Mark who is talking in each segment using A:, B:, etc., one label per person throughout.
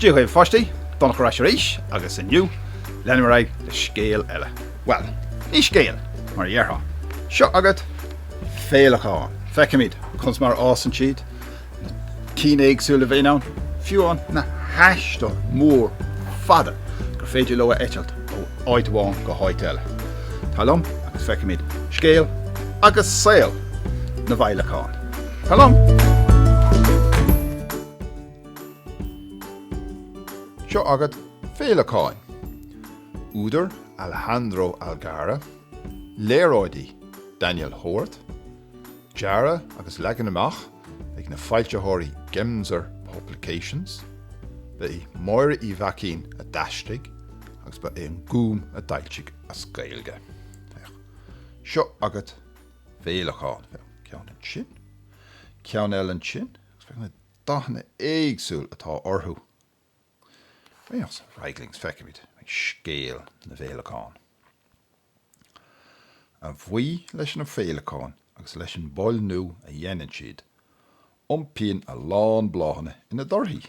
A: Dia dhaoibh pháistí, Donncha ar ais arís agus inniu leanfaidh mé ar aghaidh le scéal eile. Bhuel, ní scéal mar a dhéarfá. Seo agat féileacáin. Feicimid conas mar a fhásann siad Cinn éagsúla a bhíonn ann, fiú ann na haistir mhóra fhada gur féidir leo a eitilt ó áit amháin go háit eile. Tar liom agus feicimid scéal agus saol na bhféileacán. Tar liom! Seo agat féileacáin. Údar Alejandro Algara, léaráidí Daniel Hort, dearadh agus leagan amach ag na foilsitheoirí Gemser Publications. Ba é Máire Uí Mhaicín a d'aistrigh agus ba é an Gúm a d'fhoilsigh as Gaeilge. Seo agat féileacáin, ceann ansin, ceann eile ansin, agus féach na dathanna éagsúla atá orthu. Ar aghaidh linn is, feicimid scéal na bhféileacán. A bhuí leis na féileacáin agus leis an bpailniú a dhéanann siad, iompaíonn a lán bláthanna ina dtorthaí.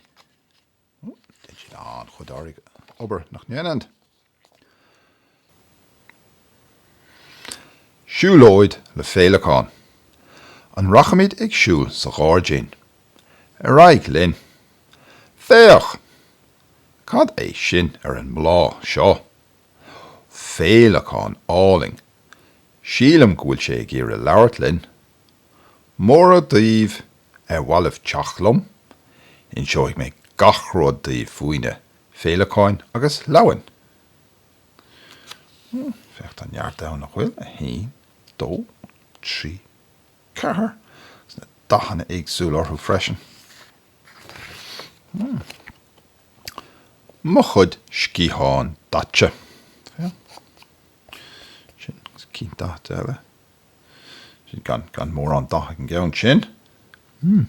A: Déanann siad an-chuid oibre, obair, nach ndéanann? Siúlóid le Féileacáin. An rachaimid ag siúl sa ghairdín? Ar aghaidh linn! Féach! Cad é sin ar an mbláth seo? Féileacán álainn. Sílim go bhfuil sé ag iarraidh labhairt linn. Móra daoibh ar mhaith libh teacht liom? Inseoidh mé gach rud daoibh faoina féileacáin agus leamhain. Hmm, féach tá neart ann nach bhfuil, a haon, dó, trí, ceathair, agus na dathanna éagsúla orthu freisin. Mo chuid sciathán daite. Sin cinn daite eile. Sin gan, gan mórán dath ag an gceann sin. Hmm.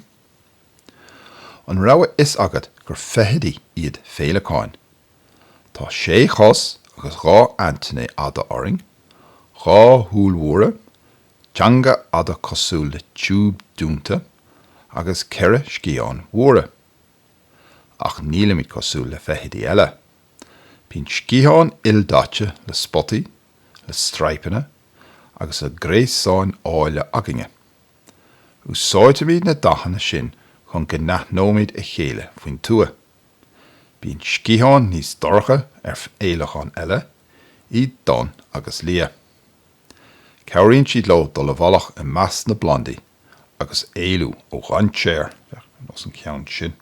A: An raibh a fhios agat gur feithidí iad féileacáin? Tá sé chos agus dhá aintéiné fhada orainn, dhá shúil mhóra, Teanga fhada cosúil le tiúb dúnta agus ceithre sciathán mhóra. Ach nílimid cosúil le feithidí eile. Bíonn sciatháin ildaite le spotaí, le straidhpeanna agus le gréasáin áille againne. Úsáidimid na dathanna sin chun go n-aithneoimid a chéile faoin tuath. Bíonn sciatháin níos dorcha ar fhéileacáin eile, iad donn agus liath. Cabhraíonn siad leo dul i bhfolach i measc na bplandaí agus éalú ó dhainséar. Féach ar nós an ceann sin.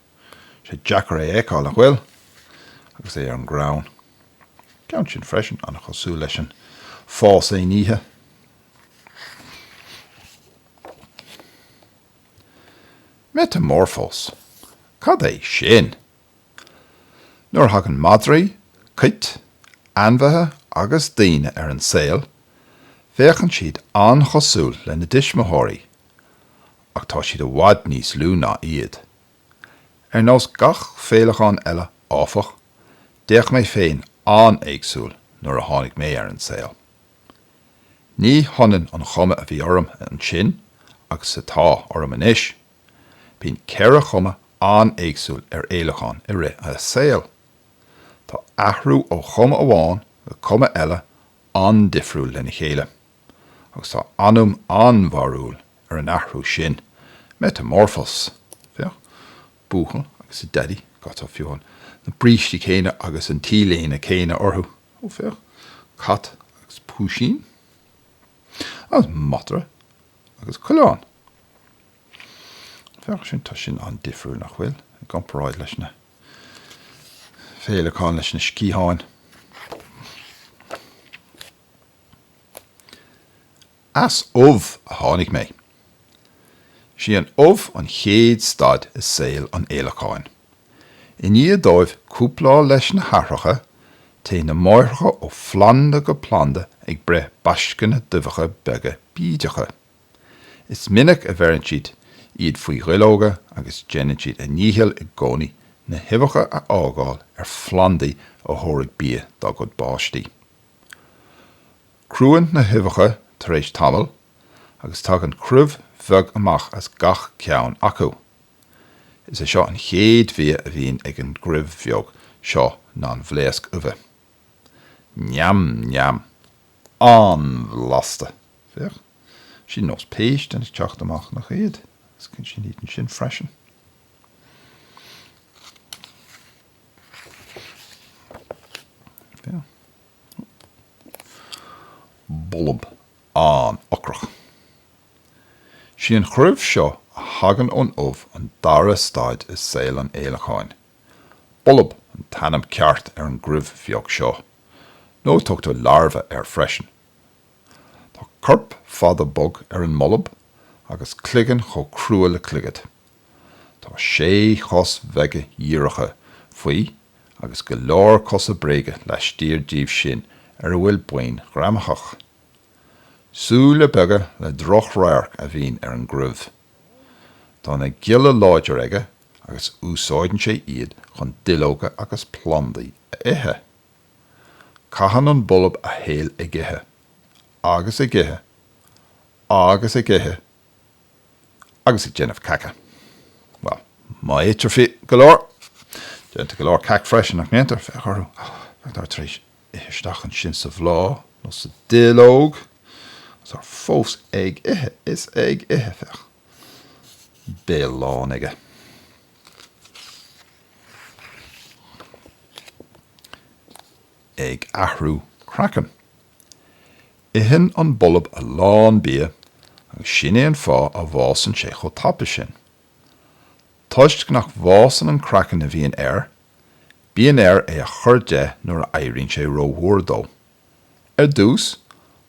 A: Sé deacair é a fheiceáil nach bhfuil? agus é ar an gcrann. Ceann sin freisin, an-chosúil leis an fás aon oíche. Meiteamorfóis? Cad é sin? Nuair a thagann madraí, cait, ainmhithe agus daoine ar an saol, féachann siad an-chosúil lena dtuismitheoirí, ach tá siad i bhfad níos lú ná iad. Ar nós gach féileacán eile, áfach, d'fhéach mé féin an-éagsúil nuair a tháinig mé ar an saol. Ní hionann an chuma a bhí orm ansin agus atá orm anois. Bíonn ceithre chuma an-éagsúil ar fhéileacán i rith a saoil. Tá athrú ó chuma amháin go cuma eile an-difriúil lena chéile, agus tá ainm an-bharrúil ar an athrú sin, meiteamorfóis, féach Buachaill agus a Dhaidí, tá fiú an na brístí céanna agus an T-léine céanna orthu? féach Cat agus Púisín, agus Madra. agus coileán. Féach sin, tá sin an-difriúil, nach bhfuil, i gcomparáid leis na féileacáin, leis na sciatháin. As ubh a tháinig mé. Is í an ubh an chéad staid i saol an fhéileacáin. I ndiaidh dóibh cúpláil leis na hathracha, téann na máithreacha ó phlanda go planda ag breith baisceanna d'uibheacha beaga bídeacha. Is minic a bheireann siad iad faoi dhuilleoga agus déanann siad a ndícheall i gcónaí na huibheacha a fhágáil ar phlandaí a thabharfaidh bia dá gcuid páistí. Cruann na huibheacha tar éis tamaill agus tagann cruimh bheag amach as gach ceann acu. Is é an chéad bhia a bhíonn ag an gcruimh bheag seo ná an bhlaosc uibhe. Neam neam! An-bhlasta! Féach, sin nós péist ag teacht amach nach iad? Is sin iad ansin freisin. Féach. Bolb an-ocrach. Is í an chruimh seo a thagann ón ubh an dara staid i saol an fhéileacáin. Bolb an t-ainm ceart ar an gcruimh bheag seo, nó tugtar larva air freisin. Tá corp fada bog ar an mbolb, agus cloigeann chomh crua le clogad. Tá sé chos bheaga dhíreacha faoi, agus go leor cosa bréige laistiar díobh sin ar a bhfuil boinn ghreamaitheacha. Súile beaga le droch-radharc a bhíonn ar an gcruimh. Tá na gialla láidir aige agus úsáideann sé iad chun duilleoga agus plandaí a ithe. Caitheann an bolb a shaol ag ithe, agus ag ithe, agus ag ithe, agus ag déanamh caca. Bhuel, má itear go leor, déantar go leor cac freisin, nach ndéantar? Féach orthu, féach tá tar éis. ithe isteach ansin sa bhláth nó sa duilleog agus tá fós ag ithe is ag ithe, féach, béal lán aige. ag athrú craiceann. Itheann an bolb a lán bia agus sin é an fáth a bhfásann sé chomh tapa sin. Toisc nach bhfásann an craiceann a bhíonn air Bíonn air é a chur de nuair a éiríonn sé rómhór dó. Ar dtús,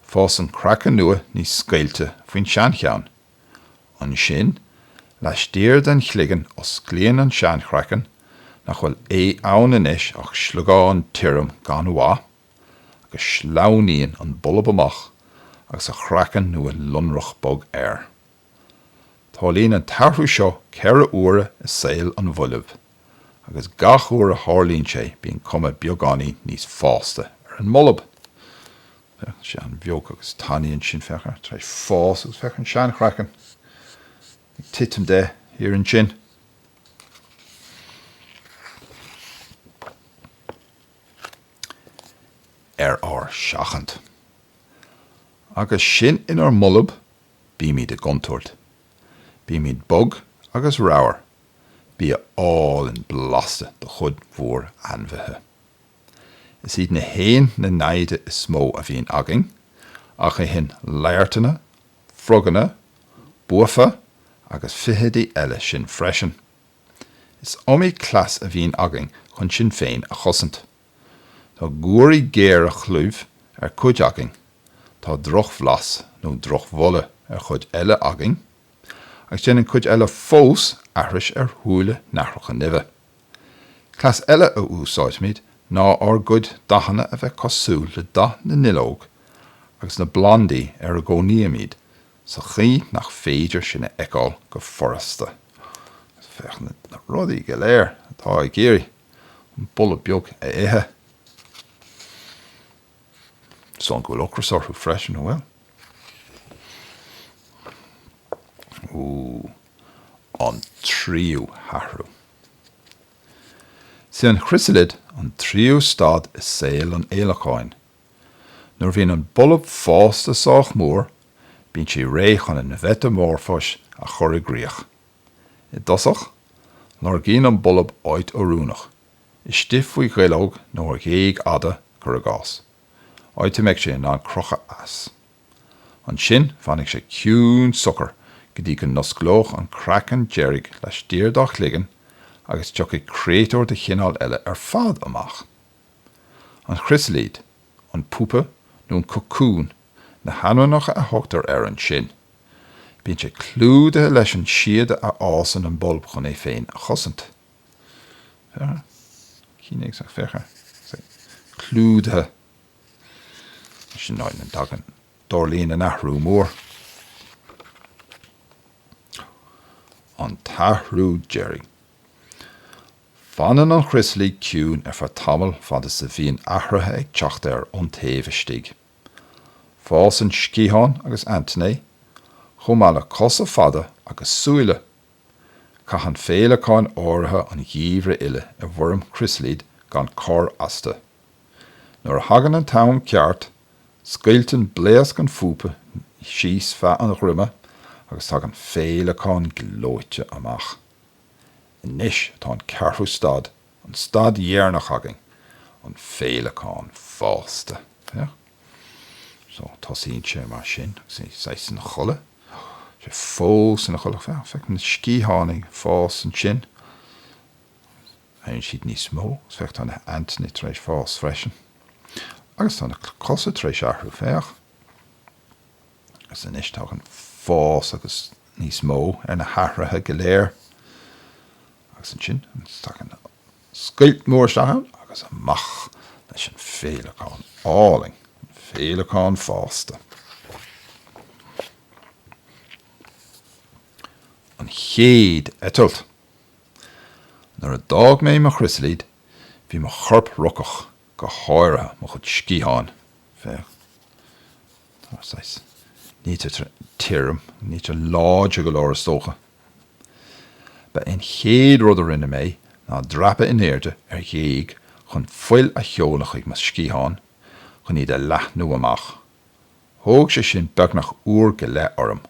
A: fásann craiceann nua níos scaoilte faoin seancheann. Ansin, laistiar den chloigeann osclaíonn an seanchraiceann, nach bhfuil ann anois ach sliogán tirim gan mhaith, agus sleamhnaíonn an bolb amach agus a chraiceann nua lonrach bog air. Tarlaíonn an t-athrú seo ceithre uaire i saol an bhoilb agus gach uair a tharlaíonn sé bíonn cuma beagáinín níos fásta ar an mbolb. Féach, tá sé an-bheag agus tanaí ansin, féach air, tar éis fás agus féach an seanchraiceann ag titim de thiar ansin. ar ár seachaint. Agus sinn inár mbolb Bímid i gcontúirt. Bímid bog agus ramhar, bia álainn blasta do chuid mhór ainmhithe. Is iad na héin na naimhde is mó a bhíonn againn, ach itheann laghairteanna, froganna, buafa agus feithidí eile sinn freisin. Is iomaí cleas a bhíonn againn chun sinn féin a chosaint. Tá guairí géar ar chlúmh ar chuid againn, tá drochbhlas nó drochbholadh ar chuid eile againn, agus déanann cuid eile fós aithris ar shúile nathracha nimhe. Cleas eile a úsáidimid ná ár gcuid dathanna a bheith cosúil le dath na nduilleog agus na bplandaí ar a gcónaímid sa chaoi nach féidir sinn a fheiceáil go furasta. Féach na rudaí go léir atá ag iarraidh an bolb beag a ithe. Is dóigh go bhfuil ocras orthu freisin, an bhfuil? Ooh, an tríú hathrú. Is é an chrisilid an tríú staid i saol an fhéileacáin. Nuair a bhíonn an bolb fásta sách mór, bíonn sé réidh chun an mheiteamorfóis a chur i gcrích. I dtosach, lorgaíonn an bolb áit oiriúnach, istigh faoi dhuilleog nó ar ghéag fhada, cur i gcás, áit a mbeidh sé in ann crochadh as. Ansin fanfaidh sé ciúin socair go dtí go n-osclóidh an craiceann deiridh laistiar dá chloigeann agus tiocfaidh créatúr de chineál eile ar fad amach. An chrisilid, an pupa nó an cocún na hainmneacha a thugtar air ansin. Bíonn sé clúdaithe leis an síoda a fháisceann an bolb chun é féin a chosaint. Cúig is fiche. Clúdaithe. Sin an áit a dtagann, tarlaíonn an athrú mór. an t-athrú deiridh. Fanann an chrisilid ciúin ar feadh tamaill fad is a bhíonn athruithe ag teacht air ón taobh istigh. Fásann sciatháin agus aintéiní, chomh maith le cosa fada agus súile. Caitheann féileacáin áirithe an geimhreadh uile i bhfoirm crisilide gan cor astu. Nuair a thagann an t-am ceart, scoilteann blaosc an phupa síos feadh an dhroma agus tagann féileacán gleoite amach. Anois atá an ceathrú staid An staid dheireanach again, an féileacán fásta. Féach. So, tosaíonn sé mar sin agus é saghas ina chodladh. Tá sé fós ina chodladh. Féach, féach na sciatháin ag fás ansin. Éiríonn siad níos mó. Féach tá na haintéiní tar éis fás freisin. Agus tá na cosa tar éis athrú. Féach. Agus anois tagann fás níos mó ar na hathruithe go léir. Agus ansin tagann scoilt mór isteach ann agus amach leis an féileacán álainn, an féileacán fásta. An chéad eitilt. Nuair a d'fhág mé mo chriosalaid bhí mo chorp rocach, go háirithe mo chuid sciatháin. Féach. Tá saghas. Níl siad tirim, níl siad láidir go leor is dócha. Ba é an chéad rud a rinne mé ná dreapadh in airde ar ghéag chun fuil a sheoladh chuig mo sciatháin chun iad a leathnú amach. Thóg sé sin beagnach uair go leith orm.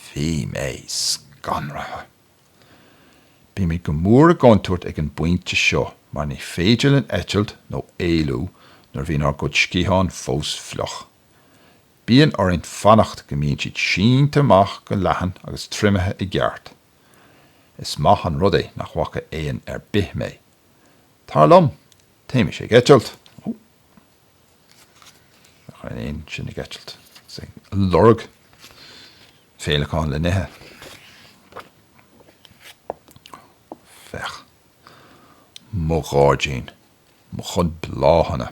A: Bhí mé scanraithe! Bímid go mór i gcontúirt ag an bpointe seo mar ní féidir linn eitilt nó éalú nuair a bhíonn ár gcuid sciatháin fós fliuch. Bíonn orainn fanacht go mbíonn siad sínte amach go leathan agus triomaithe i gceart. Is maith an rud é nach bhfaca éan ar bith mé. Tar liom, téimis-se ag eitilt! Ó! Nach bhfuil an éan sin ag eitilt agus ag lorg féileacáin le n-ithe? Féach! Mo ghairdín! Mo chuid bláthanna!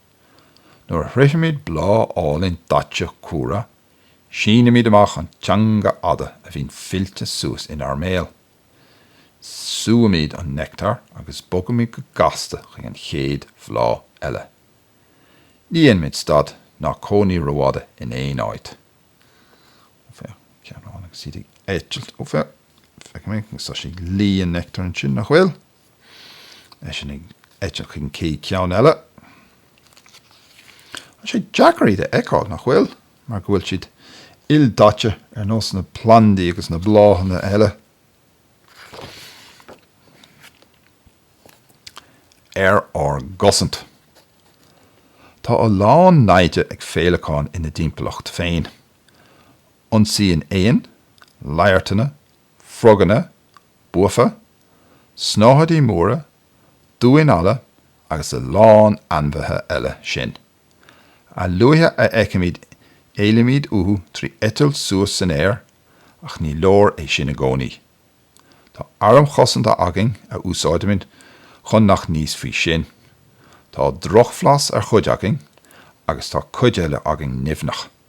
A: Nuair a shroichimid bláth álainn daite cumhra, sínimid amach an teanga fhada a bhíonn fillte suas inár mbéal. Súimid an neictear agus bogaimid go gasta chuig an chéad bhláth eile. Ní dhéanaimid stad ná cónaí rófhada in aon áit. Ó féach, ceann amháin agus iad ag eitilt. Ó féach, feicim é, tá sé ag lí an neictear ansin, nach bhfuil? Ansin ag eitilt chuig an céad ceann eile. Tá sé deacair iad a fheiceáil, nach bhfuil? Mar go bhfuil siad ildaite ar nós na plandaí agus na bláthanna eile. Ar ár gcosaint. Tá a lán naimhde ag féileacáin ina dtimpeallacht féin. Ionsaíonn éin, laghairteanna, froganna, buafa, snáthaidí móra, damháin alla agus a lán ainmhithe eile sinn. A luaithe a fheicimid éalaímid uathu trí eitilt suas san aer ach ní leor é sin i gcónaí. Tá airm chosanta againn a úsáidimid chun nach n-íosfaí sinn. Tá drochbhlas ar chuid againn agus tá cuid eile againn nimhneach.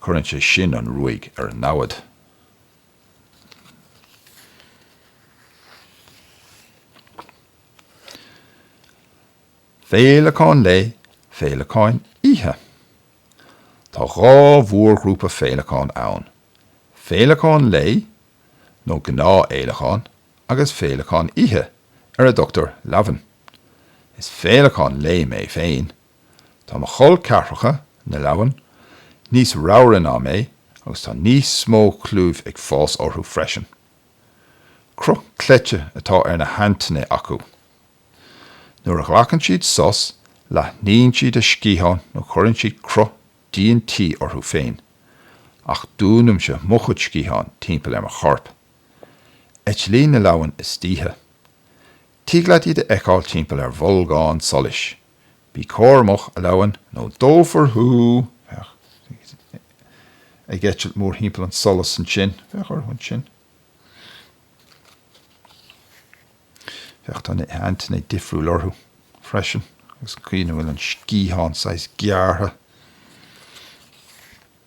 A: Cuireann sé sin an ruaig ar an namhaid. Féileacáin lae, féileacáin oíche. Tá dhá mhórghrúpa féileacán ann, féileacáin lae, nó gnáthfhéileacáin, agus féileacáin oíche, ar a dtugtar leamhain. Is féileacán lae mé féin, Tá mo chol ceathracha, na leamhain, níos ramhra ná mé agus tá níos mó clúimh ag fás orthu freisin. Cruth cleite atá ar na haintéiní acu. Nuair a ghlacann siad sos, leathnaíonn siad a sciatháin nó cuireann siad cruth díon tí orthu féin, ach dúnaimse mo chuid sciathán timpeall ar mo chorp. Eitlíonn na leamhain istoíche. Tig leat iad a fheiceáil timpeall ar bholgán solais. Bí cúramach, a Leamhain, nó dófar thú, féach, ag eitilt mórthimpeall an tsolais ansin, féach orthu ansin, féach, tá na haintéiní difriúil orthu freisin, agus an chaoi ina bhfuil an sciathán saghas gearrtha.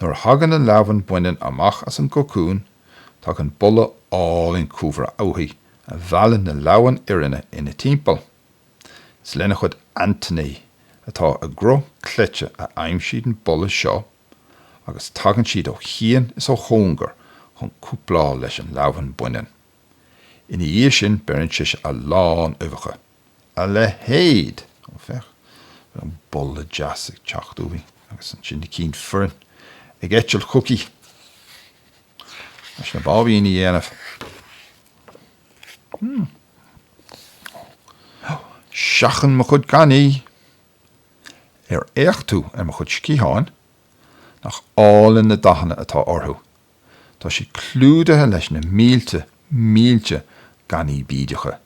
A: Nuair a thagann an leamhan baineann amach as an gcocún, tagann boladh álainn cumhra uaithi a mheallann na leamhain fhireanna ina timpeall. Is lena chuid aintéiní atá i gcruth cleite a aimsíonn siad an boladh seo agus tagann siad ó chian is ó chóngar chun cúpláil leis an leamhan baineann. Ina dhiaidh sin beireann sise a lán uibheacha. a leithéid. Ó féach an boladh deas ag teacht uaithi agus ansin na cinn fireann ag eitilt chuici leis na báibíní a dhéanamh. Seachain mo chuid gainní! Ar fhéach tú ar mo chuid sciatháin? Nach álainn na dathanna atá orthu? Tá siad clúdaithe leis na mílte, mílte gainní bídeacha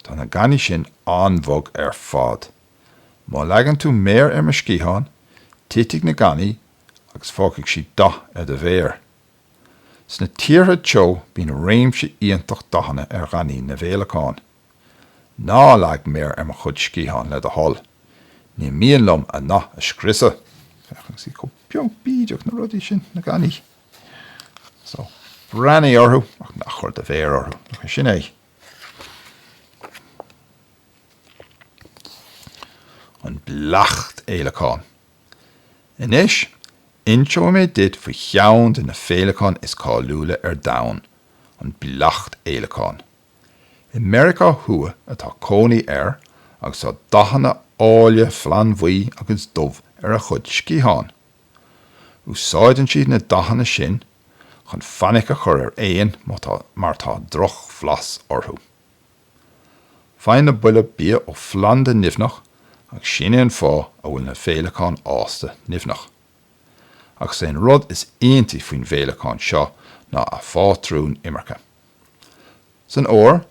A: Tá na gainní sin an-bhog ar fad. Má leagann tú méar ar mo sciathán, titfidh na gainní agus fágfaidh siad dath ar do mhéar. Sna tíortha teo bíonn réimse iontach dathanna ar ghainní na bhféileacán. Ná leag méar ar mo chuid sciathán le do thoil. Ní mian liom a ndath a scriosadh. Féach ansin chomh beag bídeach na rudaí sin, na gainní. So, breathnaigh orthu ach ná cuir do mhéar orthu. Sin é. an bleachtfhéileacán. Anois, inseoidh mé duit faoi cheann de na féileacáin is cáiliúla ar domhan, an bleachtfhéileacán. I Meiriceá Thuaidh atá cónaí air agus tá dathanna áille flannbhuí agus dubh ar a chuid sciathán. Úsáideann siad na dathanna sin chun fainic a chur ar éin mar tá drochbhlas orthu. Faigheann na boilb bia ó phlanda nimhneach agus sin é an fáth a bhfuil na féileacáin fhásta nimhneach. Ach is é an rud is iontaí faoin bhféileacán seo ná a phátrún imirce. San fhómhar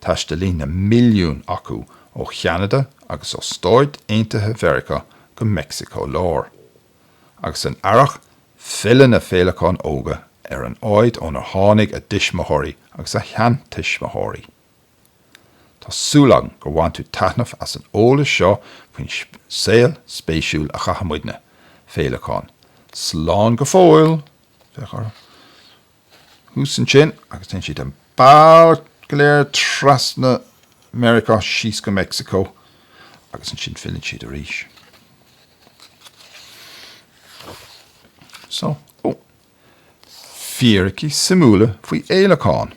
A: taistealaíonn na milliúin acu ó Cheanada agus ó Stáit Aontaithe Mheiriceá go Meicsiceo Láir. agus san earrach filleann na féileacáin óga ar an áit ónar tháinig a dtuismitheoirí agus a seantuismitheoirí. Tá súil agam gur bhain tú taitneamh as an eolas seo faoin saol spéisiúil a chaitheann muidne, féileacáin. Slán go fóill! féach orthu. thuas ansin agus téann siad an bealach go léir trasna Meiriceá síos go Meicsiceo agus ansin filleann siad arís. So, ó, fíricí suimiúla faoi fhéileacán.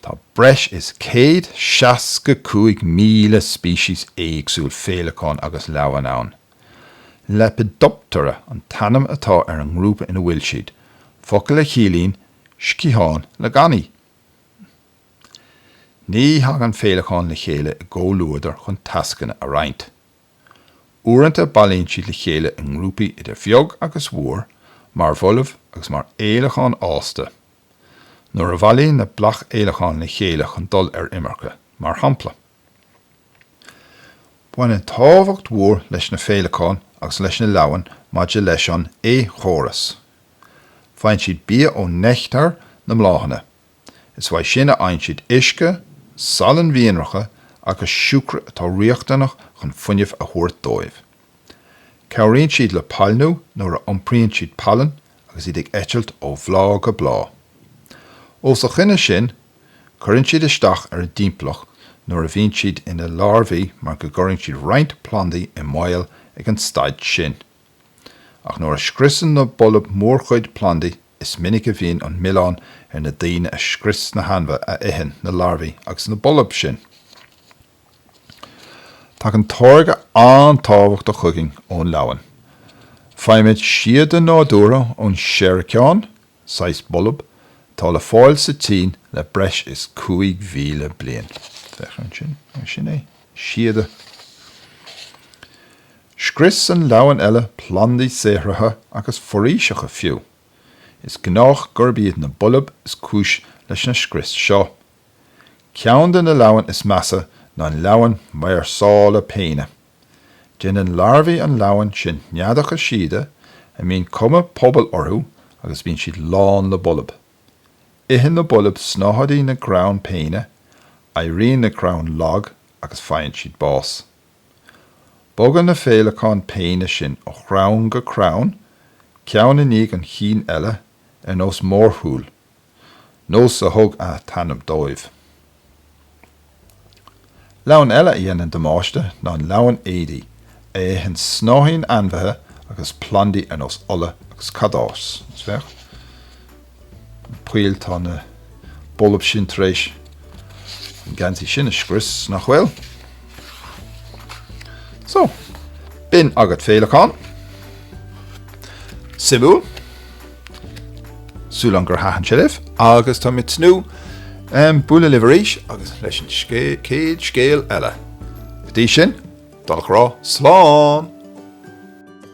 A: Tá breis is 165,000 species éagsúil féileacán agus leamhan ann. Lepidoptera an t-ainm atá ar an ngrúpa ina bhfuil siad, focal a chiallaíonn sciathán le gainní. Ní thagann féileacáin le chéile i gcomhluadar chun tascanna a roinnt. Uaireanta bailíonn siad le chéile i ngrúpaí idir bheag agus mhór, mar bhoilb agus mar fhéileacáin fhásta. nuair a bhailíonn na bleachtfhéileacáin le chéile chun dul ar imirce, mar shampla. Baineann tábhacht mhór leis na féileacáin agus leis na leamhain maidir leis an éiceachóras. Faigheann siad bia ó neictear na mbláthanna, is uaidh sin a fhaigheann siad uisce, salainn mhianracha agus siúcra atá riachtanach chun fuinneamh a thabhairt dóibh. Cabhraíonn siad le pailniú nuair a iompraíonn siad pailin agus iad ag eitilt ó bhláth go bláth. Os a choinne sin, cuireann siad isteach ar a dtimpeallacht nuair a bhíonn siad ina larbhaí mar go gcuireann siad roinnt plandaí i mbaol ag an staid sin. Ach nuair a scriosann na boilb mórchuid plandaí, is minic a bhíonn an milleán ar na daoine a scrios na hainmhithe a itheann na larbhaí agus na boilb sin. Tagann táirge an-tábhachtach chugainn ón leamhan. Faighimid síoda nádúrtha ón seiriceán, saghas bolb atá le fáil sa tSín le breis is 5,000 bliain. Féach ansin, sin é, síoda. Scriosann leamhain eile plandaí saothraithe agus foraoiseacha fiú. Is gnách gurb iad na boilb is cúis leis na scrios seo. Ceann de na leamhain is measa ná an leamhan máirseála péine. Déanann larbhaí an leamhain sin neadacha síoda a mbíonn cuma pubaill orthu agus bíonn siad lán le boilb. Itheann na boilb snáthaidí na gcrann péine, éiríonn na crainn lag agus faigheann siad bás. Bogann na féileacáin phéine sin ó chrann go crann, ceann i ndiaidh an chinn eile, ar nós mórshiúil. nós a thug an t-ainm dóibh. Leamhan eile a dhéanann damáiste ná an leamhan éadaí, a itheann snáithín ainmhithe agus plandaí ar nós olla agus cadás. Féach na poill, tá na boilb sin tar éis an geansaí sin a scrios, nach bhfuil? So, b'in agat féileacáin, suimiúil. Súil agam gur thaitin sé libh agus tá mé ag tnúth le bualadh libh arís agus leis an céad scéal eile. Go dtí sin, dul a rá, slán!